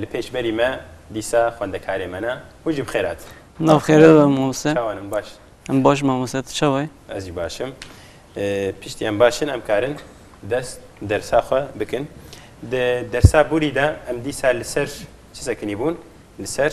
Li pêş berî me dîsa xwendekarê me ne. Hûn jî bi xêr hatin. Na bi xêr be mamose. Çawa ne min baş? Min baş mamose tu çawa yî? Ez jî baş im. Piştî em baş in em karin dest dersa xwe bikin. Di dersa borî de em dîsa li ser çi sekinî bûn? Li ser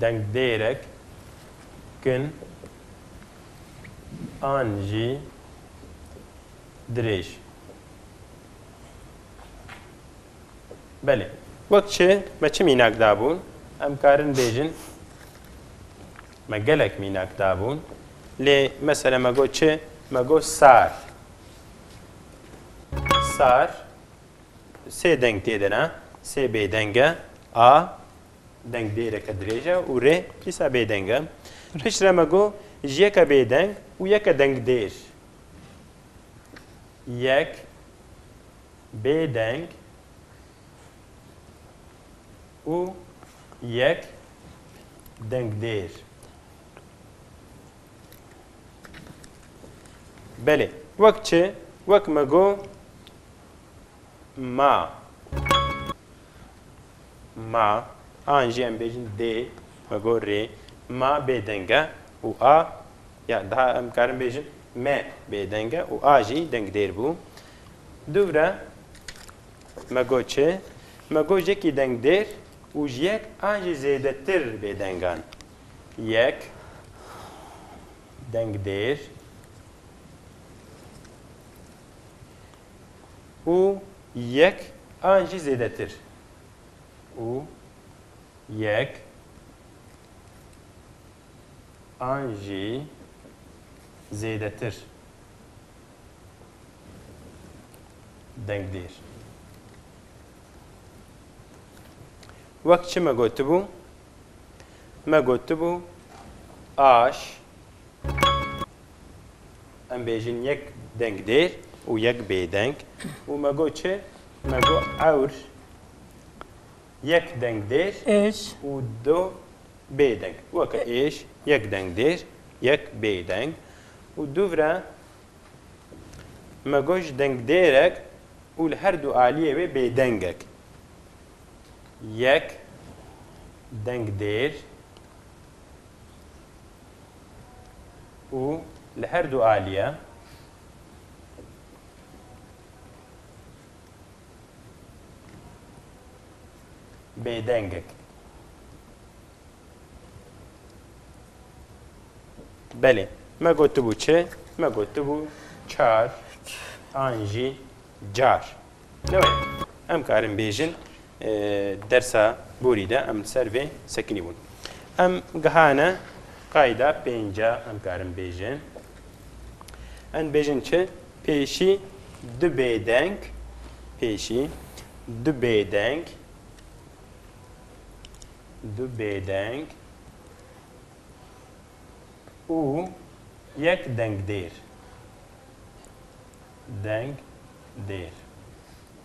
dengdêrek kin an jî dirêj. Belê. Wek çi, me çi mînak dabûn? Em karin bêjin me gelek mînak dabûn. Lê mesela me got çi? Me got sar. Sar. Sê deng tê de ne, sê bêdeng e, a deng dêreke dirêj e û rê dîsa bêdeng e. Pişt re me got ji yeke bêdeng û yeke deng dêr. Yek bêdeng û yek deng dêr. Belê, wek çi? Wek me got. Ma Ma an jî em bêjin dê me got rê ma bêdeng e û a ya daha em karin bêjin me bêdeng e û a jî dengdêr bû. Dûvre me got çi? Me got yekî dengdêr û ji yek an jî zêdetir bêdengan. Yek dengdêr. û yek an jî zêdetir û yek an jî zêdetir dengdêr. Wek çi me gotibû? Me gotibû aş Em bêjin yek deng dêr û yek bêdeng û me got çi? Me got ewr yek deng dêr û du bêdeng. Weke êş yek deng dêr, yek bêdeng û du vire. Me got ji dengdêrek û li her du aliyê wê bêdengek. Yek dengdêr. û li her du alîye bêdengek. Belê, me gotibû çi? Me gotibû çar an jî car. Lewê em karin bêjin Dersa borî de em li ser vê sekinî bûn. Em gihane qayda pênc a em karin bêjin. Em dibêjin çi? Pêşî du bêdeng pêşî du bêdeng du bêdeng û yek dengdêr dengdêr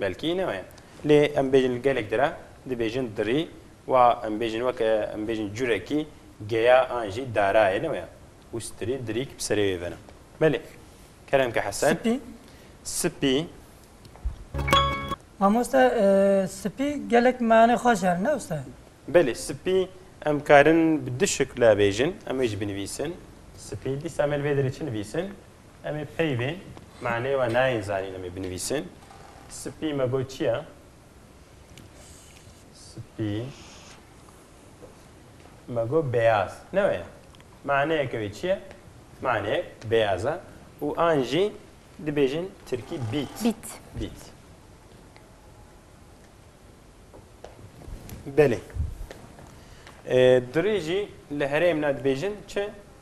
Belkî ne weye. Lê em bêjin li gelek dire dibêjin dirî wa em bêjin weke em bêjin curekî geya an jî darayê ne weye. Ûstirî dirîk bi serê wê vena. Belê. Kerem ke hesen. Spî. Spî. Mamoste spî gelek manê xweş herin ne usta? Belê spî em karin bi du şikle bêjin em wê jî binivîsin. Spî dîsa me li vê derê çi nivîsin? Em ê peyvê maneyê we nayên zanîn em ê binivîsin. Spî me got çi ye? Spî me got beyaz. Ne we ye. Maneyeke wê çi ye? Maneyek beyaz e. Û an jî dibêjin tirkî bît. Bît. Bît. Belê. Dirê jî li herêmna dibêjin çi?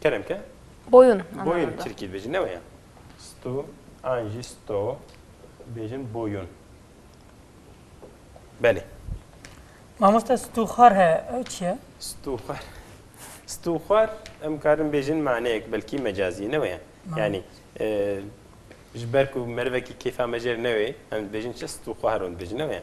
Kerem ke? Boyun. Boyun Türkiye dibêjin ne weye? Stu, an jî sto bêjin boyun. Belê. Mamoste stûxar he ew çi ye? Stûxar. Stûxar em karin bêjin maneyek belkî mecazî ne weye? Yanî ji ber ku merivekî kêfa me jêr newê em dibêjin çi stûxar hûn dibêjin ne weye?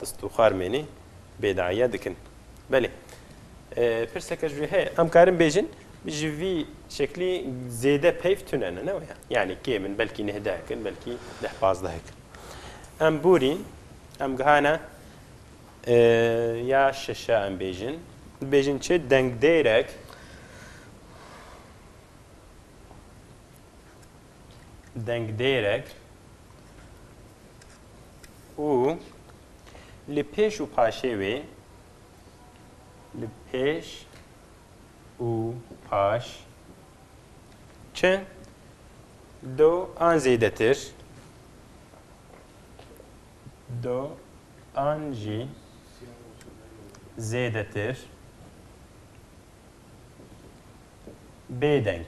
Dest û xarmênê bêdaiya dikin. Belê. Pirseke ji wê heye. Em karin bêjin ji vî şeklî zêde peyv tune ne ne waya. Yani kêm in belkî nehdehek in belkî deh pazdehek in. Em borîn em gihane ya şeşe em bêjin. Bêjin çi dengdêrek dengdêrek û li pêş û paşê wê li pêş û paş çi do an zêdetir do an jî zêdetir bêdeng.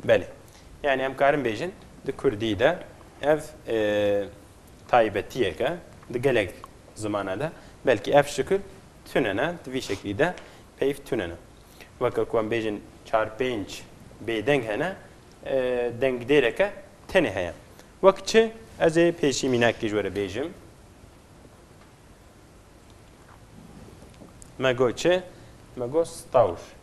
Belê. Yani em karin bêjin di Kurdî de ev taybetiyek e di gelek zimana de belkî ev şikil tune ne di vî şeklî de peyv tune ne. Weke ku em bêjin çar pênc bêdeng hene dengdêreke tenê heye. Wek çi ez ê pêşî mînakî ji were bêjim me got çi me got stawr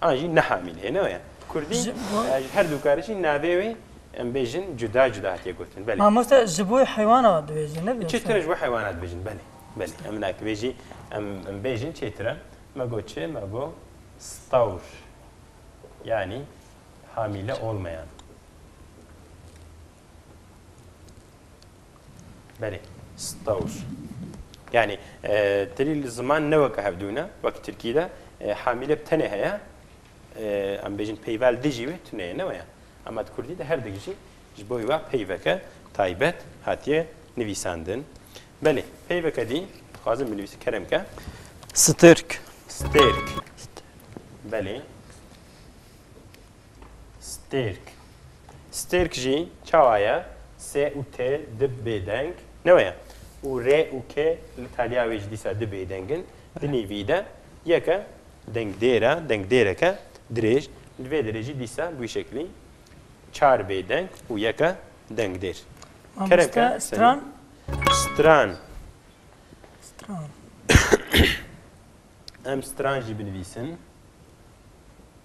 An jî Nehamîn hê ne ya. Bi kurdî ji her du karê jî navê wê em bêjin cuda cuda hatiye gotin. Belê. Mamoste ji bo heywana dibêjin ne? Çêtir e ji bo heywana dibêjin belê. Belê em na ki vê jî em em bêjin çêtir e. Me got çi? Me got stawr yanî hamîle olmayan. Belê. Stawûs. Yanî tirî li ziman ne weke hevdû ne, wekî tirkî de hamîle bi tenê heye, em bêjin peyvel dijî wê tune ye ne weye. Ema di kurdî de herdik jî ji bo wê peyveke taybet hatiye nivîsandin. Belê, peyveke dî dixwazim binivîsim kerem ke. Stêrk. Stêrk. Belê. Stêrk. Stêrk jî çawa ye? Sê û tê di bêdeng ne we ye. Û rê û kê li taliya wê jî dîsa di bêdeng in. Di nêvî de yek e dengdêr e, dengdêreke dirêj. Li vê derê jî dîsa bi wî şeklî çar bêdeng û yek e dengdêr. Keremke stran. Stran. Stran. Em stran jî binivîsin.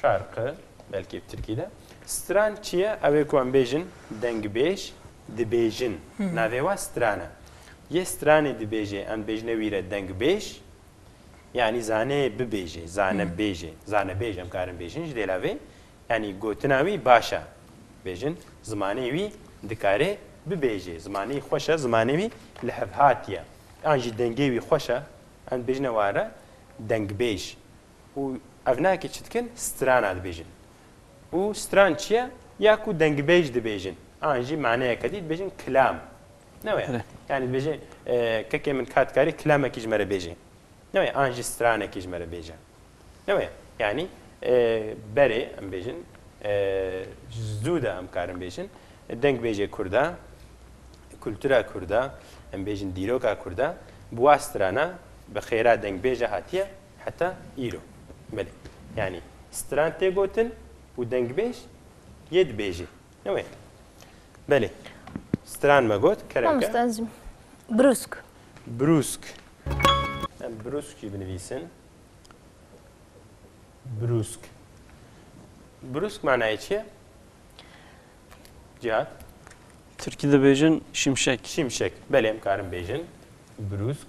Şarkı, belkî bi tirkî de. Stran çi ye? Ew ê ku em bêjin dengbêj dibêjin. Navê we stran e. Yê stranê dibêjê, em dibêjine wî re dengbêj. Yanî zane bibêjê, zane bêjê, zanebêj em karin bêjin ji dêla vê. Yanî gotina wî baş e. Bêjin zimanê wî dikare bibêjê. Zimanê wî xweş e, zimanê wî li hev hatiye. Yan jî dengê wî xweş e. Em dibêjine wan re dengbêj. û ev ne ki çi dikin strana dibêjin. Û stran çi ye? Ya ku dengbêj dibêjin an jî maneyeke dî dibêjin kilam. Newê yani dibêjin kekê min ka dikarî kilamekî ji me re bêjê. Newê an jî stranekî ji me re bêje. Newê yanî berê em bêjin zû de em karin bêjin dengbêjê Kurd e, kultura Kurd e, em bêjin dîroka Kurd e, bi wa strana bi xêra dengbêje hatiye. Heta îro. Belê. Yanî stran tê gotin û dengbêj yê dibêjê. Ne wê? Belê. Stran me got kerem ke. Mamoste ez brûsk. Brûsk. Em brûsk jî binivîsin. Brûsk. Brûsk manayê çi ye? Cihat. Tirkî dibêjin şimşek. Şimşek. Belê em karin bêjin. Brûsk.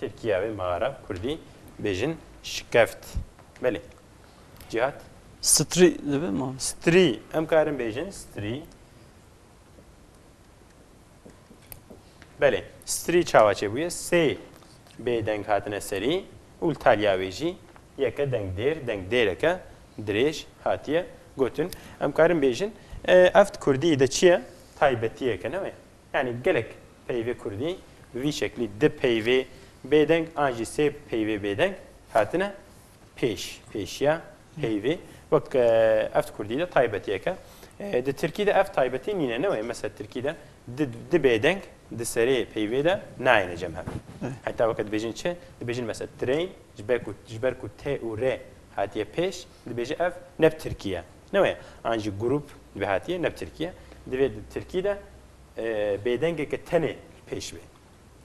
Tirkiye ve mağara Kurdî bêjin şikeft. Belê. Cihat? Strî dibe mam. Strî. Em karin bêjin strî. Belê. Strî çawa çêbûye? Sê bêdeng hatine serî û li taliya wê jî yeke deng dêr, deng dêreke dirêj hatiye gotin. Em karin bêjin ev di Kurdî de çi ye? Taybetiyeke ne wê? Yanî gelek peyvê kurdî bi vî şeklî di peyvê bêdeng an jî sê peyvê bêdeng hatine pêş, pêşiya peyvê wek ev di kurdî de taybetiyek e. Di tirkî de ev taybetî nîne ne weyî mesela tirkî de di di bêdeng di serê peyvê de nayêne cem hev. Heta weke dibêjin çi? Dibêjin mesela train ji ber ku ji ber ku t û r hatiye pêş dibêje ev ne bi tirkî ye. Ne waya, an jî grûp divê hatiye ne bi tirkî ye, divê di tirkî de bêdengeke tenê pêş bê.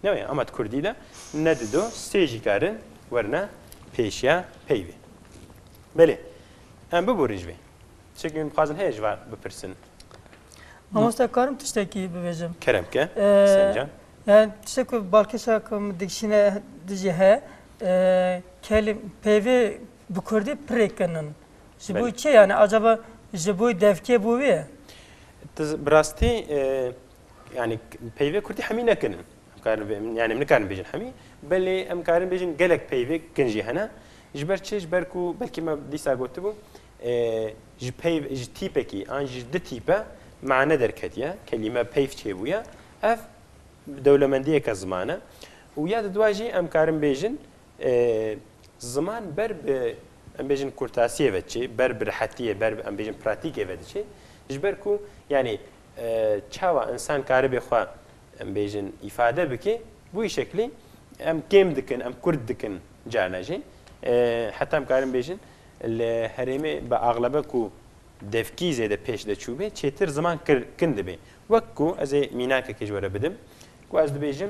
Ne waya, ama di kurdî de ne di do sê jî karin werine pêş ya peyvê. Belê, em biborîn ji vê. Çekî min bixwazin heye ji van bipirsin. Mamoste karim tiştekî bibêjim? Kerem bike, Husên can. Yani tiştek ku balkê şa ku min dikişîne dijî heye, kelîm peyvê bi kurdî pirêk kinin. Ji bo kê yani acaba ji bo devkê bû wê? Tu bi rastî yani peyvê kurdî hemî nekin. Yani min nikarin bêjin hemî belê em karin bêjin gelek peyvê kin jî hene. Ji ber çi ji ber ku belkî me dîsa gotibû ji peyv ji tîpekî an ji di tîpe mane derketiye kelîme peyv çêbûye ev bi dewlemendiyeke ziman e û ya di dua jî em karin bêjin Ziman ber bi em bêjin kurtasiyê ve diçê, ber bi rehetiyê, ber bi em bêjin pratîkê ve diçê. Ji ber ku yanî çawa insan karibê xwe em bêjin îfade bike, bi wî şeklî em kêm dikin, em kurt dikin carna jî. Heta em karin bêjin li herêmê bi axlebe ku devkî zêde pêş de çûbê, çêtir ziman kin dibê. Wek ku ez ê mînakekê ji we re bidim ku ez dibêjim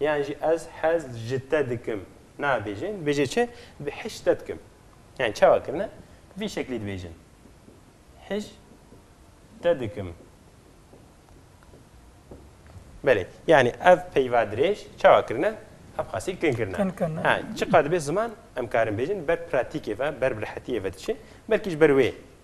Yan jî ez hez ji te dikim nabêjin, dibêje çi? Dibê hej ji te dikim. Yan çawa kirine? Bi vî şeklî dibêjin. Hej te dikim. Belê. Yanî ev peyva dirêj çawa kirine? Ev xasî kin kirine. Kin kirine. Ha, çiqad dibê ziman em karin bêjin ber pratîkê ve, ber bi rehetiyê ve diçe, belkî ji ber wê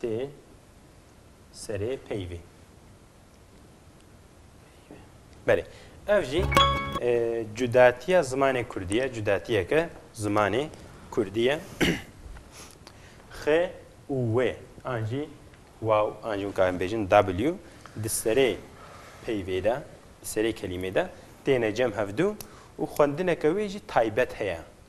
Tê serê peyvê. Belê. Ev jî cudatiya zimanê Kurdî ye, cudatiyeke zimanê Kurdî ye. Xê û wê an jî waw an jî weka em bêjin W di serê peyvê de, di serê kelîmê de têne cem hevdu û xwendineke wê jî taybet heye.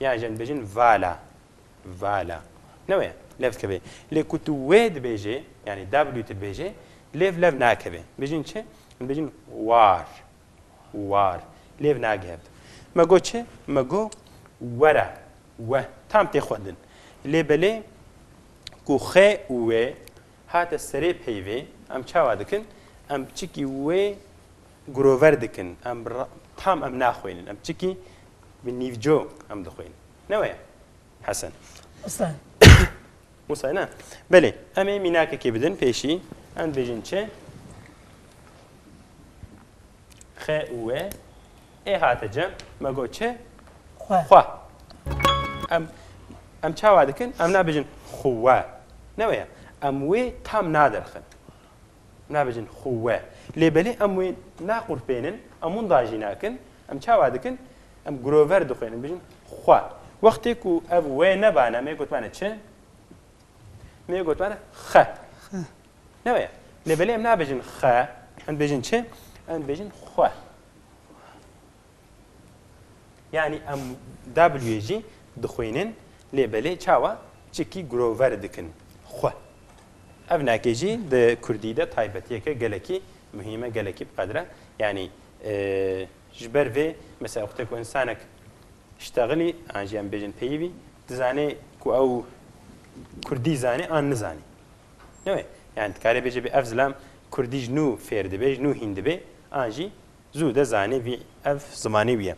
Yan jî em dibêjin vala, vala. Ne wê ye, lev dikeve. Lê ku tu wê dibêjê, yanî W tu dibêjê, lêv lev nakeve. Dibêjin çi? Em dibêjin war, war. Lêv nage hev. Me got çi? Me got were, we. Tam tê xwendin. Lê belê ku xê û wê hate serê peyvê, em çawa dikin? Em piçikî wê Grover dikin em bi tam em naxwênin em çikî bi nîvco em dixwênin ne we ye Hesen? Hesen. Hesen ne? Belê em ê mînakekê bidin pêşî em dibêjin çi? Xe û we ê hate cem me got çi? Xwe. Xwe. Em em çawa dikin em nabêjin xwe ne we ye em wê tam nadirxin. nabêjin xûwe. Lê belê em wê naqûrpênin, em winda jî nakin, em çawa dikin? Em girover dixwînin, dibêjin xwe. Wextê ku ev wê nebane, mê gotibane çi? Mê gotibane xe. Ne waya? Lê belê em nabêjin xe, em dibêjin çi? Em dibêjin xwe. Yani em W'yê jî dixwînin lê belê çawa çikî girover dikin xwe. Ev nakê jî di kurdî de taybetiyeke gelekî muhîm e, gelekî bi qedr e. Yanî ji ber vê mesela wextê ku însanek îştexilî an jî em bêjin peyivî dizanê ku ew kurdî zanê an nizanî. Newê yani dikarê bêje bê ev zilam kurdî ji nû fêr dibê, ji nû hîn dibê an jî Zû de zanî vî ev zimanê wî ye.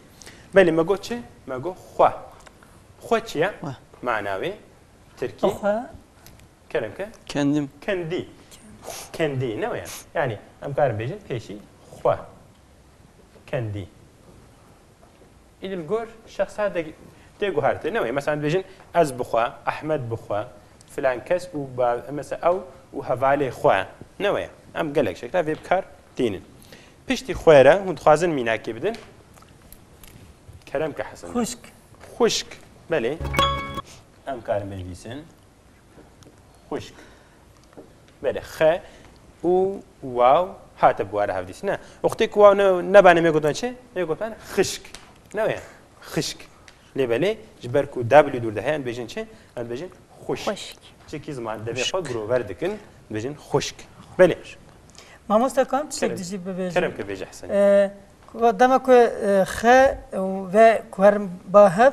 Belê me got çi? Me got xwe. Xwe çi ye? Mana wê tirkî. Xwe. Kerem ke? Kendim. Kendî. Kendî ne weye. Yanî em karin bêjin pêşî xwe. Kendî. Îdî li gor şexsa de tê guhertin. Ne wê mesela dibêjin ez bi xwe, Ehmed bi xwe, filan kes û mesela ew û hevalê xwe. Ne wê. Em gelek şekla vê bi kar tînin. Piştî xwe re hûn dixwazin mînakê bidin. Kerem ke Hesen. Xuşk. Xuşk. Belê. Em karin binivîsin. Xwişk. Belê xe û waw hate bi ware hevdîs ne. Uxtê ku waw nebanê mê gotan çi? Mê gotan xişk. Ne wê xişk. Lê belê ji ber ku W dûr de heye em dibêjin çi? Em dibêjin xwişk. Xwişk. Çekî ziman devê xwe girover dikin dibêjin xwişk. Belê. Mamosta kan tiştek dijî bibêjin. Kerem ke bêje Hesen. Dema ku xe ve ku herin ba hev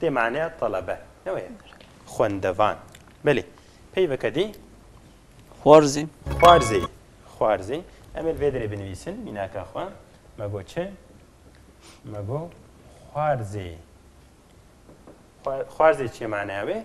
Dê maneya telebe ne weye xwendevan. Belê peyveke dê. Xwarzê. Xwarzê. Xwarzê. Em ê li vê derê binivîsin mînaka xwe. Me got çi? Me got xwarzê. Xwarzê çi ye maneya wê?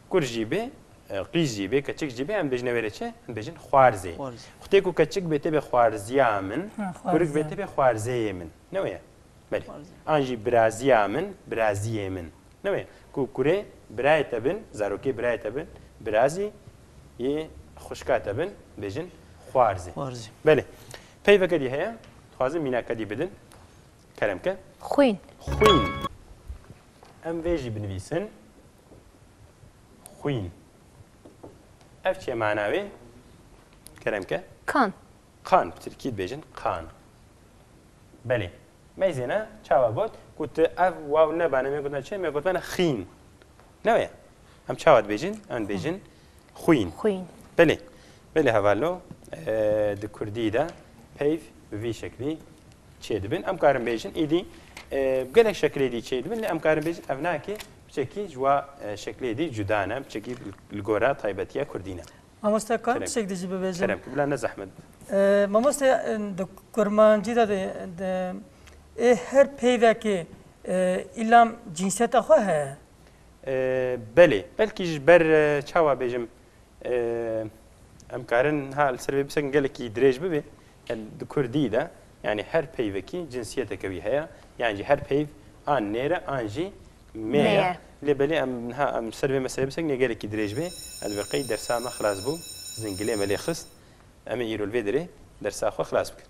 Kurd jî bê, qîz jî bê, keçik jî bê em dibêjin wê rê çi? Em dibêjin xwarzê. Xwtê ku keçik bê tê bê xwarziya min, kurik bê tê bê xwarzeyê min. Ne wê ye? Belê. An jî biraziya min, biraziyê min. Ne wê ye? Ku kurê birayê te bin, zarokê birayê te bin, birazî yê xwişka te bin, dibêjin xwarzê. Belê. Peyveke dî heye, dixwazin mînaka dî bidin. Kerem ke. Xwîn. Xwîn. Em vê jî binivîsin. Xwîn. Ev çi ye mana wê? Kerem ke. Kan. Kan, bi tirkî dibêjin kan. Belê. Meyzêna çawa got ku tu ev waw nebane me gotina çi? Me gotmana xîn. Ne wê? Em çawa dibêjin? Em dibêjin xwîn. Xwîn. Belê. Belê hevallo di kurdî de peyv bi vî şeklî çêdibin. Em karin bêjin êdî gelek şekilê dî çêdibin lê em karin bêjin ev nakê biçekî ji wa şekilê dî cuda ne biçekî li gora taybetiya Kurdî ne. Mamoste kar tişek dijî bibêjin. Kerem bila ne zehmet. Mamoste di kurmancî de ê her peyvekê îlam cînseta xwe heye. Belê belkî ji ber çawa bêjim Em karin ha li ser vê pirseke gelekî dirêj bibe di kurdî de yanî her peyvekî cinsiyeteke wî heye yan jî her peyv an nêre an jî meye lê belê em ha em ser vê meselê pirseke gelekî dirêj bê ez bi qey dersa me xilas bû zingilê me lê xist em ê îro li vê derê dersa xwe xilas bikin.